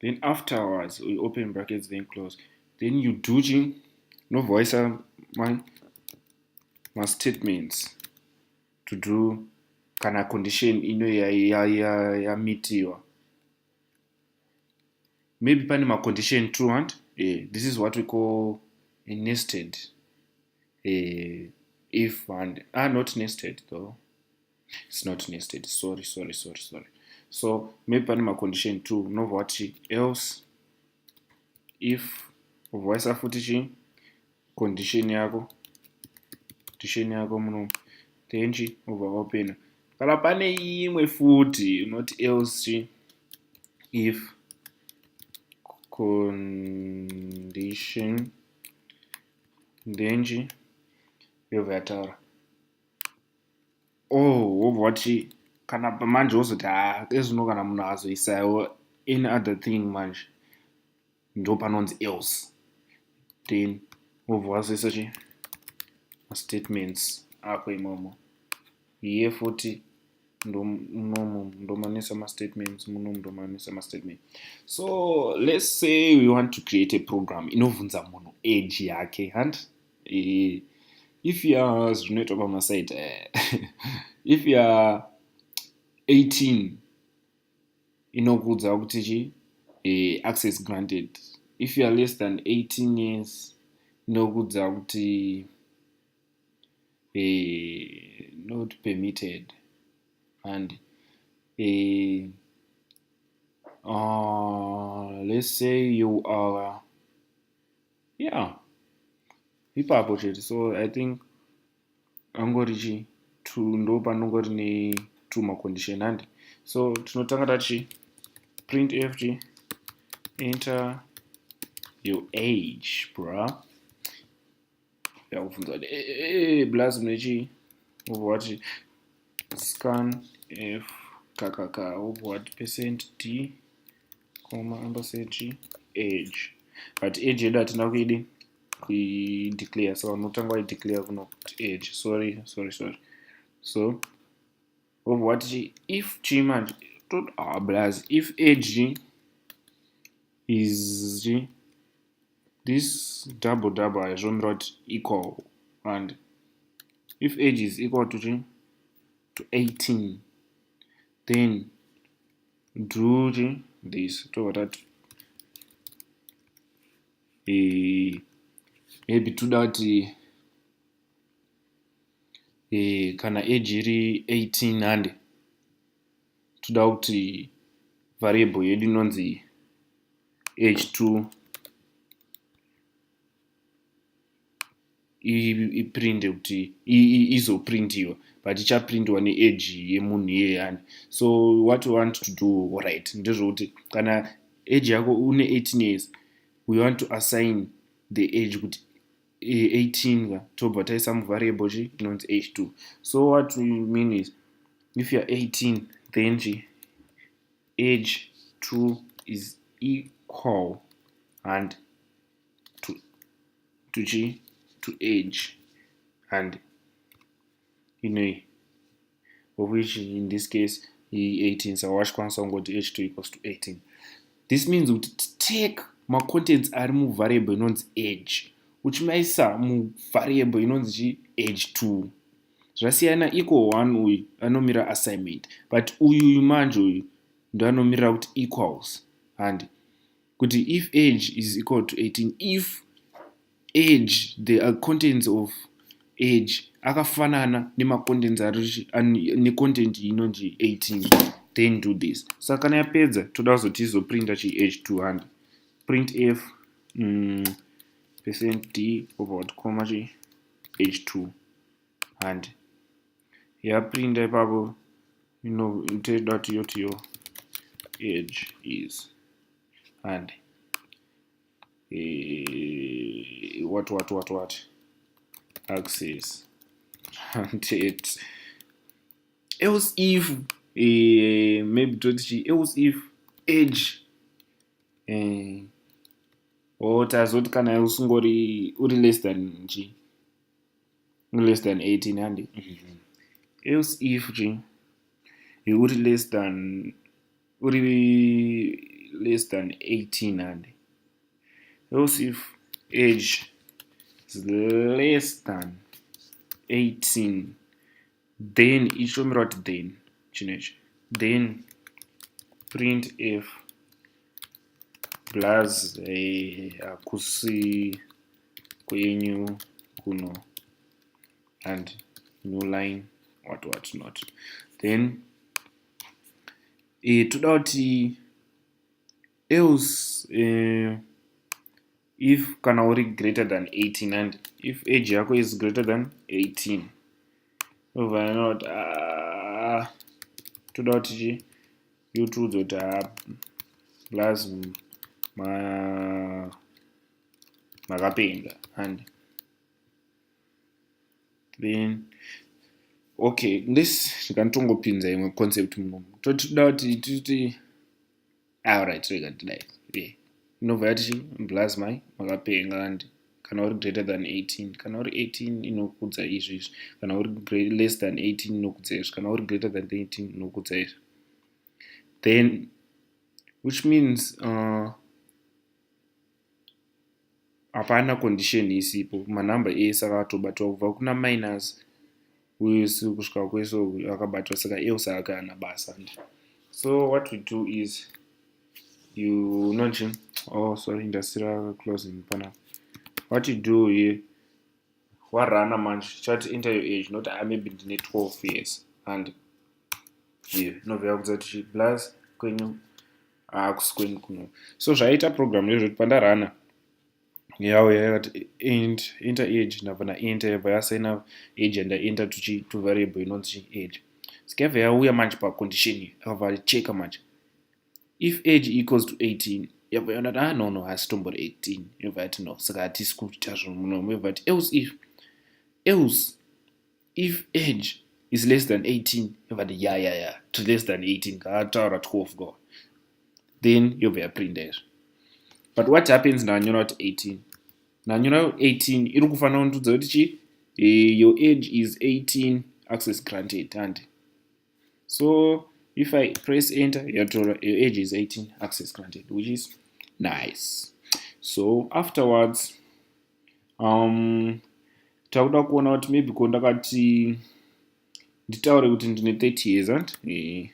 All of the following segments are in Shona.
then afterwards we open brackets then close then you do ching nobva waisa mastatements to do kana condition ino yamitiwa ya, ya, ya maybe pane macondition two and eh, this is what we call a nested eh, if and are ah, not nested though its not nested sorry sorry sorry sorry so maybe pane macondition two unobva wati else if ubva waisa futi chii condition yako condition yako muno then chi ubva wapena kana pane imwe futi unoti else chi if condition then chi yobva yataura oh wobva wati kana pamanje wozoti haa ezvino kana munhu azoisaiwo any other thing manje ndo panonzi else then wobva wazoisa chi mastatements ako imomo iye futi munomu ndomanisa mastatements munomu ndomanisa mastatement so let's say we want to create a program inobvunza munhu age yake handi Eh, if you're zvinoitwa pamasaita eh, if you're 18 inokuudza kuti chi eh, access granted if you're less than 18 years inokuudza kuti eh, not permitted and eh, uh, let's say you are yeah ipapo chete so i think angori chi two ndo panongori ne two macondition handi so tinotanga tati print ft enter your age bra yakubvunza kuti eh, eh, eh, blaz mune chii wobva wati scan f kakaka wobva wati percent d koma ambasechi age but age yedu hatina kuidi kuideclare so vanotanga vaideclare kuno kuti age sorry sorry sorry so wobva wati chi if chii manje tot ah, blaz if age is chii this double double ayo zvinomira kuti equal and if age is equal to chii to 18 then do chii this tobva tati eh, maybe toda kuti eh, kana age iri 18 hande toda kuti variable yedu inonzi h2 iprinde kuti izoprindiwa but ichaprindiwa needge yemunhu iye yani so what you want to do right ndezvokuti kana edge yako une 18 years we want to assign the edge kuti 18 ka tobva taisa muvariable chi inonzi h2 so what we mean is if youare 18 then chi age 2 is equal and to, to chi to age and inoyi of which in this case i18 saka wachikwanisa kungoti h2 equals to 18 this means kuti take macontents ari muvariable inonzi age uchimaisa muvariable inonzi chi age 2 zvasiyana equal one uyu anomira assignment but uyuyu manje uyu ndoanomirira kuti equals handi kuti if age is equal to 18 if age the uh, contents of age akafanana nemacontents ari necontent inonzi 18 then do this saka kana yapedza toda kuzoti izoprinta chi age 200 print f mm, percent d about comma chi age 2 and yaprinta ipapo inotoda kuti yotiyo age is and eh, what what what what access it else if eh, maybe toti chi else if age eh, or tazoti kana usingori uri less than chi less than 18 handi mm -hmm. else if chi uri less than uri less than 18 hande else if age is less than 18 then ichitomira kuti then chino ichi then print f plus eh, hakusi eh, kwenyu kuno and new line what what not then e, toda kuti else e, if kana uri greater than 18 and if age yako is greater than 18 ovana kuti ah, toda kuti chi you two that are plus ma makapenga and then okay this ndikanditongopinza imwe concept munomu toti toda kuti titi alright ah, rega tidai e inobva yati blaz mai makapenga kandi kana uri greater than 18 kana uri 18 inokudza izvi izvi kana uri less than 18 inokudza izvi kana uri greater than 18 inokudza izvi then which means uh, hapana condition isipo manumber ese akatobatwa kubva kuna minus wese kusvika kwese akabatwa saka else ake ana basa ndi so what we do is you nonchi oh sorry ndasira closing panapa what you do here warana manje chati enter your age not ah, maybe ndine 12 years and yeah, novhera kudza tichi plus kwenyu akusi ah, kwenyu kuno so zvaiita program ndezvekuti pandarana yawo yakati int enter age ndabva naenter yabva yasaina age yandaenter tuchi tuvariable inonzi age sikabva yauya manje pacondition akabva cheka manje if age equals to 18 yabva yaona kuti ah no no haasi tombori 18 inobva yati no saka hatisi kuita zvinhu muno yobva yati else if else if age is less than 18 yobva yati ya ya ya to less than 18 kaataura 12 go then yobva yaprinda izvo but what happens ndanyora kuti 18 ndanyora 18 iri kufanira kundudza kuti chi eh, your age is 18 access granted handi so if i press enter yatora your age is 18 access granted which is nice so afterwards um takuda kuona kuti maybe ko ndakati nditaure kuti ndine 30 years ant eh,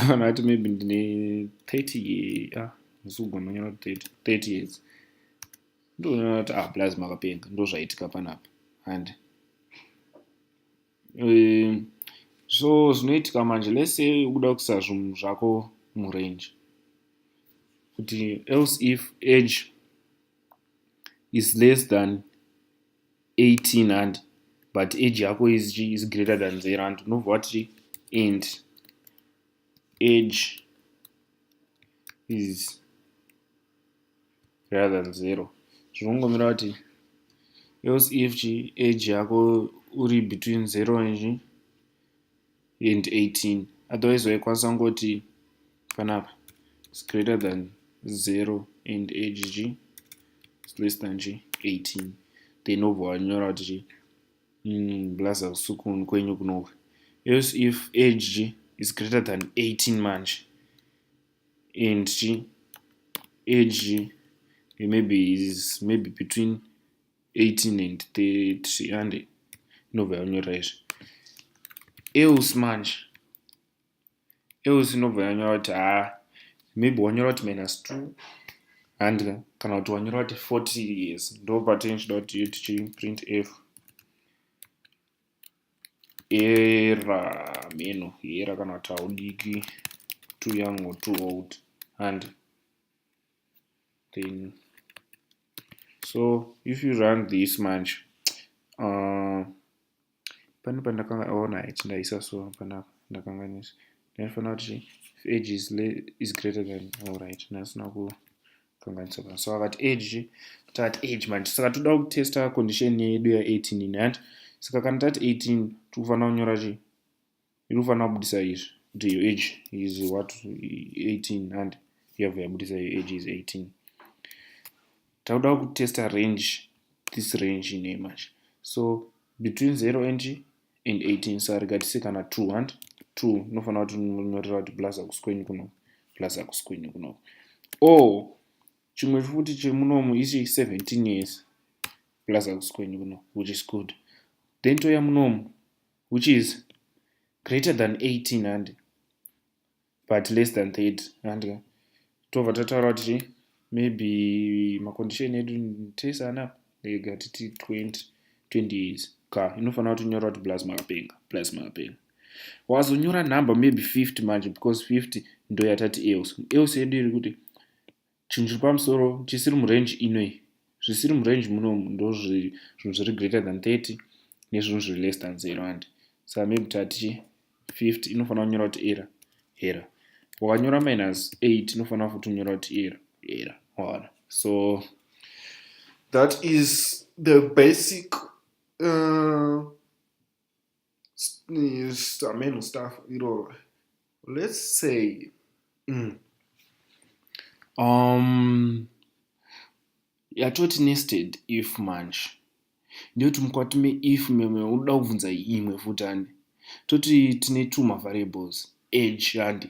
kana ati maybe ndine 30 ye ah ndisugona nyora 30 years ndoona kuti ah plus makapenga ndozvaitika panapa and Eh, so zvinoitika manje let's say ukuda kuisa zvinhu zvako murange kuti else if age is less than 18 and but age yako is, is greater than the rand unobva wati and age is greater than zero zvinongomira kuti else if chi age yako uri between zero nji and 18 otherwise waikwanisa kungoti panapa is greater than zero and age g is less than g 18 then obva wanyora kuti chi mm, blaza kusukun kwenyu kunoku else if age g is greater than 18 manje and age maybe is maybe between 18 and 30 ande inobva yanyorera izvi else manje else inobva yanyora kuti haa ah, maybe wanyora kuti minus two handika kana kuti wanyora kuti 40 years ndo patinenge chida kuti tichiprint f era mheno era kana kuti haudiki too young or too old and then so if you run this much uh, pane pandakanga ona oh, iti ndaisa so panapa ndakanganisa ndinofanira kuti if age is, is greater than all right ndasina ku kanganitsoka so akati age takati age manje saka toda kutesta condition yedu ya18 ini handi saka kana tati 18 tiri kufanira kunyora chii iri kufanira kubudisa izvi kuti your age is what 18 handi yabva yabudisa your age is 18 takuda kutesta range this range ine manje so between 0 and and 18 so rega tise kana 2 hant 2 unofanira kuti unonyorera kuti plus akuskweny kuno plus akuskweny kuno o chimwe futi chiri munomu ichi 17 years plus akuskweny kuno which is good then toya munomu which is greater than 18 handi but less than 30 andika tobva tataura kuti chii maybe macondition edu tese anapa ega titi 20 20 years ka inofanira kuti nyora kuti plus makapenga plus makapenga wazonyora number maybe 50 manje because 50 ndoyatati else else yedu iri kuti chinhu chiri pamusoro chisiri murange inoi zvisiri murange muno ndozvinhu zviri greater than 30 nezvinhu zviri less than 0 and sa maybe tati 50 inofanira kunyora kuti era era wakanyora minus 8 inofanira futi kunyora kuti era era waona so that is the basic uh, ameno staff iroro let's say mm. um, yatoti nested if manch ndiyoti mukwati meif meme unoda kubvunza imwe futi handi toti tine two mavariables age handi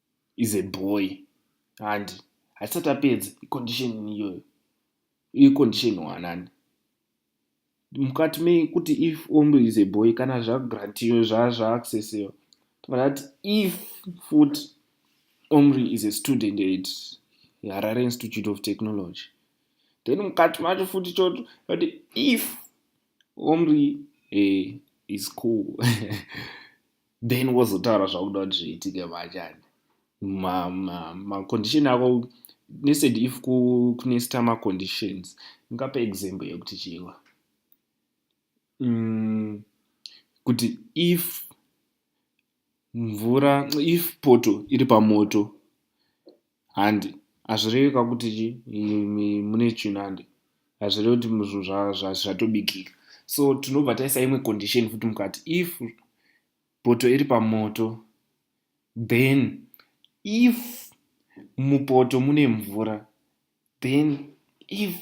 is a boy handi haisati apedza icondition iyoyo icondition wanani mukati mekuti if ombo is a boy kana zvagrantiyo zvazvaaccessiyo tobata kuti if fut omri is a student at harare institute of technology then mukati macho futi choto kuti if omri eh, is cool then wozotaura zvakuda kuti zviitike machani macondition ma, ma ako nesed if kunesta maconditions ngape example yekuti chiwa mm, kuti if mvura if poto iri pamoto Handi. Hazvirevi ka kuti chi mune chinhu handi. Hazvirevi kuti zvinhu zvatobikika. So tinobva taisa imwe condition futi mukati if poto iri pamoto then if mupoto mune mvura then if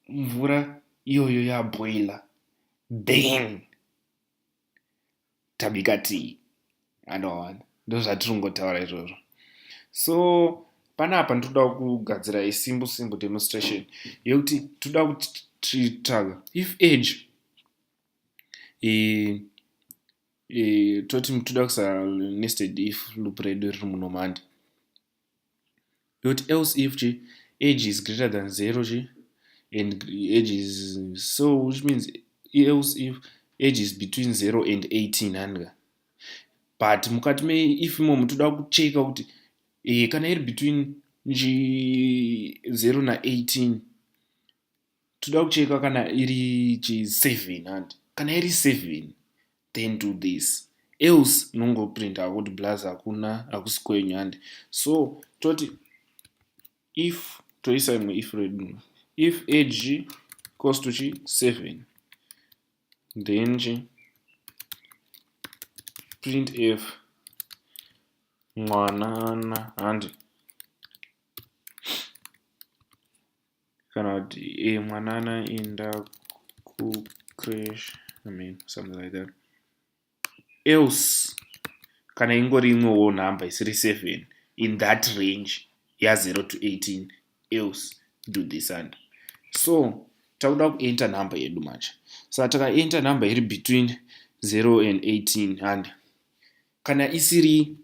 mvura iyoyo yaboiler then tabika tii anoona ndozvatiri kungotaura izvozvo so panapa ndinoda kugadzira isimbu simbu demonstration yekuti tinoda kutitsvaga if age toti toda kusanested if loop redu riri munomandi But else if chi age is greater than zero chi and age is so which means else if age is between zero and 18 handika but mukati me if imomo toda kucheka kuti e, kana iri between zero na 18 toda kucheka kana iri chi seven handi kana iri seven then do this else unongoprinta akuti blaz hakuna hakusi kwenyu handi so toti if toisa imwe if redu if age equals to chi seven then chi print f mwanana handi kana kuti e eh, mwana anoenda kucrash i mean something like that else kana ingori imwewo number isiri seven in that range yazero to eighteen else do this and so takuda kuenter number yedu manje saka takaenter number iri between zero and eighteen and kana isiri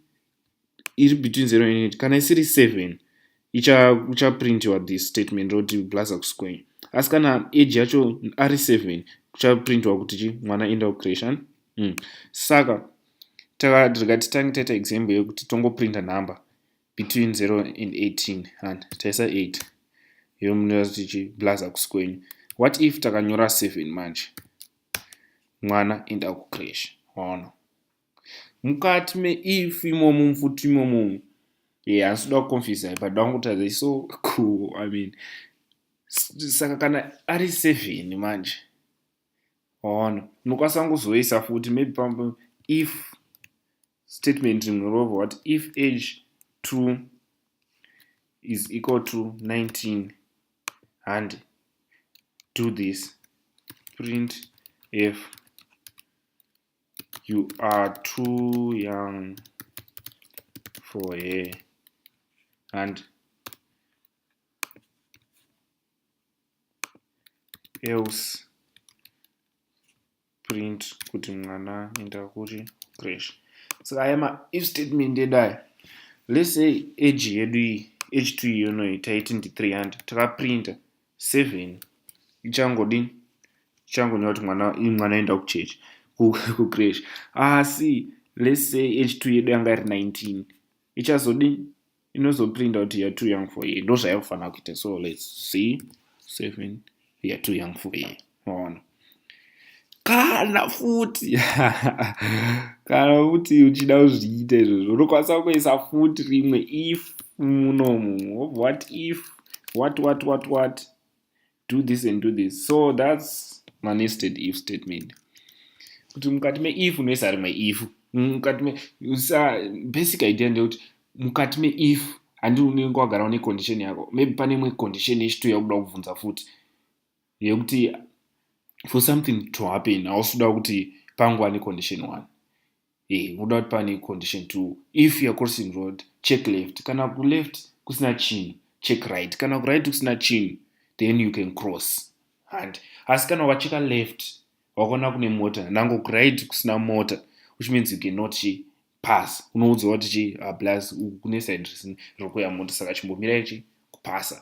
iri between 0 and 8 kana isiri 7 ichaprintiwa this statement roti blaza kusquare asi kana age yacho ari 7 kuchaprintiwa kuti chi mwana enda kucreation mm. saka takarega titange taita example yekuti tongoprinta number between 0 and 18 and taisa 8 iyo munira kuti chi blaza kusquare what if takanyora 7 manje mwana enda kucreation waona mukati me if imomo mfuti imomo ye yeah, asida kuconfisa ipa da kungotadza i so cool i mean saka kana ari seven manje waona unokwanisa kungozoisa futi maybe pamwe if statement rimwe rova what if age two is equal to 19 handi do this print f you are too young for her and else print kuti mwana enda kuri crash saka aya ma if statement edai let's say age yedu iyi age two iyonoyi taiti ndi 300 takaprinta seven ichangodini ichangonyora kuti mwana mwana aenda kuchechi kucresh asi let's say age two yedu yanga iri nineteen ichazodini inozoprinda kuti youare too young for ye ndo zvayakufanira kuita so let's see seven youare too young for ye maona kana futi kana futi uchida kuzviita izvozvo unokwanisa kuisa futi rimwe if munomu wobva what if what what what what do this and do this so thats manested if statement kuti mukati meif unoisa rimwe if mukati me sa basic idea ndeyekuti mukati meif handi unenge wagara une condition yako maybe pane imwe condition yechituya kuda kubvunza futi yekuti for something to happen hausi kuda kuti pangu ane condition one eh, unoda kuti pane condition two if youare crossing road check left kana kuleft kusina chinhu check right kana kuright kusina chinhu then you can cross handi asi kana wacheka left wakaona kune mota nango kuright kusina mota which means you cannot chi pass unoudza kuti chi ah, plus kune side risini riri kuya mota saka chimbomirai chi kupasa